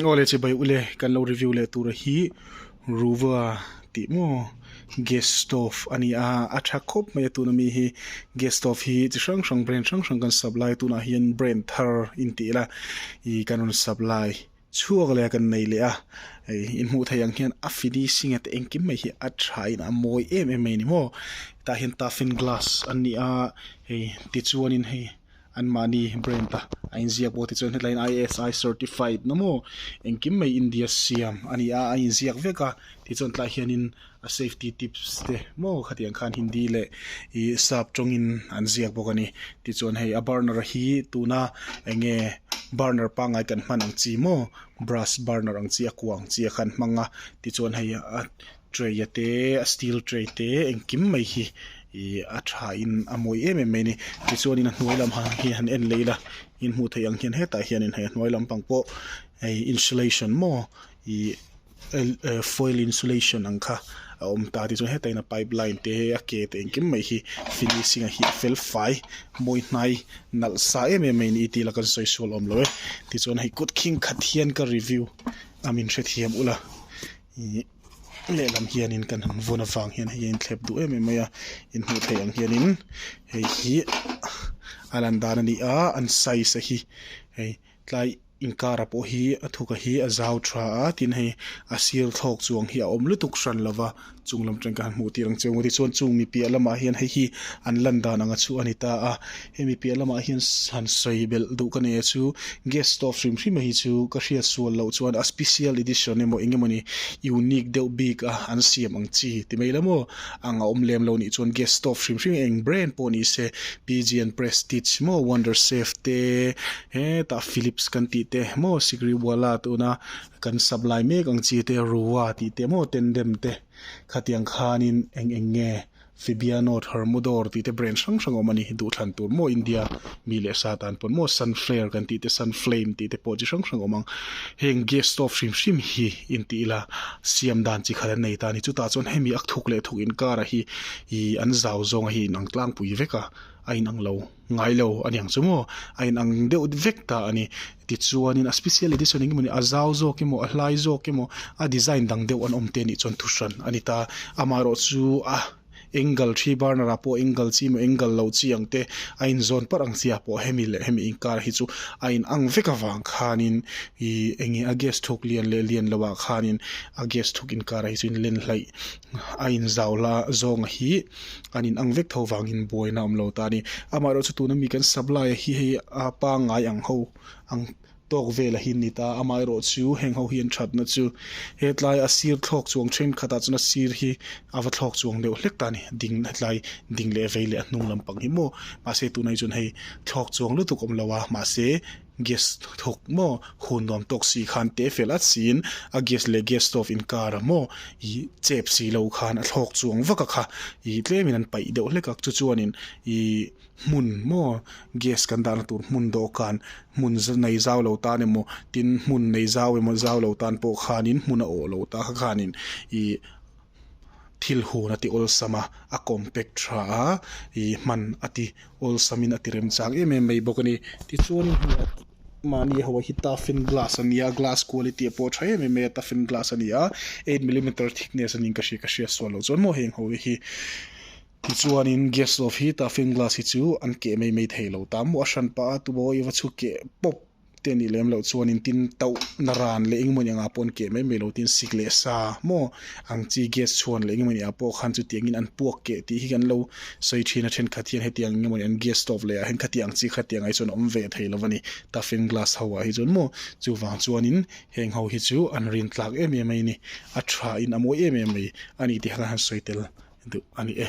Aw le che bai ule kan lo review leh tura hi ruva tih maw gas stove a ni a a tha khawp mai a tuna mi hi gas stove hi chi hrang hrang brand hrang hrang kan sap lai tunah hian brand thar in tih ila ih kan rawn sap lai chhuak leh a kan nei leh a in hmuh theih ang hian a finishing ate engkim mai hi a tha in a mawi em em mai a ni maw hetah hian taffin glass an ni a hei tichuan in hei. Anmahni brand a a inziak pawh te chuan headline ISI certified na maw engkim mai India siam a ni a a inziak vek a ti chuan tlaiah hianin a safety tips te maw khatiang khan hindi leh ih sap tawngin an ziak bawk a ni tichuan hei a burner a hi tuna eng nge burner pangai kan hman ang chi maw brass burner ang chi a kua ang chi a khan hmang a tichuan hei a. Tray a te a steel tray te engkim mai hi ih a tha in a mawi em em mai a ni tichuan in a hnuai lam ah hi han en leh ila in hmuh theih ang hian hetah hian in hei a hnuai lam pang pawh hei insulation maw ih eh foil insulation ang kha a awm ta tichuan heta in a pipe line te a ke te engkim mai hi finishing ah hi a fel fai mawi hnai nalh sa em em mai a ni tih ila kan sawi sual awm lo e tichuan hei kut khing khat hian ka review a min hrethiam ula. Ih lehlam hianin kan han vun avang hian hei hi a inthlep duh em em mai a, in hmuh theih ang hianin hei hi a lan dan a ni a, an size a hi hei tlai inkara pawh hi a thuk a hi a zau tha a, tin hei a sir thlawk chu ang hi a awm lutuk hran lo va, chung lam aṭang hian kan han hmuh tir ang che, maw tichuan chung mi piah lamah hian hei hi an lan dan ang a chu a ni ta a. Hemi piah lamah hian han sawi belh duh ka nei a chu gas stove hrim hrima hi chu ka hriat sual loh chuan a special edition emaw eng emawni unique deuh bik a an siam ang chi ti mai la maw ang a awm lem lo nih chuan gas stove hrim hrim eng brand pawh ni se pigeon prestige maw wonder safe te hetah philips kan tih te maw sikri wala tuna kan sap lai mek ang chi te ruwa tih te maw tendem te khatiang khanin eng eng nge Sibiano, Tharmudor tih te brand hrang hrang a awm a ni. Duhthlan tur maw India mi leh Satan pawn maw Sunflare kan tih te Sunflame tih te pawh chi hrang hrang a awm ang. Heng gas stove hrim hrim hi inti ila siam dan chi khat an nei ta a ni. Chutah chuan hemi a thuk leh thuk inkara hi ii an zau zawnga hi inang tlangpui vek a, a inang lo. Ngai lo a niang chu maw? A in ang deuh vek ta a ni. Tichuanin a special edition eng emaw a zau zawk emaw a hlai zawk emaw a design dang deuh an awm te nih chuan thu hran a ni ta. Amaherawh chu a eng gal thi burner ah pawh eng gal chi emaw eng gal lo chi ang te a in zawn parh ang chi ah pawh hemi leh hemi inkar hi chu a in ang vek avang khanin ih enge a gas thuk lian leh lian lo ah khanin a gas thuk inkar a hi chu in len hlaih a in zau la zawng hi an in ang vek tho vang in buaina awm lo ta a ni amah erawh chu tuna mi kan sak lai hi hei a pangngai ang ho ang tawk vel a hi an ni ta amah erawh chu heng ho hian that na chu hetlai a sir thlawk chuang then khat ah chuan a sir hi a va thlawk chuang deuh hlek ta a ni ding hetlai ding leh vei leh a hnung lampang hi maw mahse tunah hi chuan hei thlawk chuang lutuk awm lo a mahse-- Gas thawk maw? Hun nuam tawk si khan teh fel at siin, a gas leh gas stove in kar a maw? Ih chep si lo khan a thlawk chuang vak a kha. Ih tlemin an paih deuh hlek a, chu chuanin ih hmun maw? Gas kan dahna tur hmun dawhkan, hmun nei zau lo tan emaw, tin hmun nei zau emaw zau lo tan pawh khanin hmun a awh lo ta kha khanin ih thil hun a ti awlsam a, a compact tha a, ih hman a ti awlsamin a ti remchang em em mai bawk a ni. Tichuan mahni ho hi toughen glass a nia, glass quality a pawh tha em em mai a, toughen glass a ni a, eight millimetre thickness a ni ka hria ka hria sual loh chuan maw heng ho hi. Tichuanin gas stove hi toughen glass hi chu an keh mai mai thei lo ta maw a hran pah a, tumaw i va chhu keh pawp te a nih lem loh chuanin tin tauh na ran leh eng emaw anga pawn keh mai mai lo tin sik leh sa maw ang chi gas chhuan leh eng emaw nia pawh khan chutiang in an puak keh tih hi kan lo sawi thin a thenkhat hian hetiang eng emaw ni an gas stove leh ah hian khatiang chi khatiang ah hi chuan a awm ve thei lo a ni taffin glass ho ah hi chuan maw chuvang chuanin heng ho hi chu an rin tlak em em mai a ni a tha in a mawi em em mai a ni tih khan han sawi tel duh a ni e.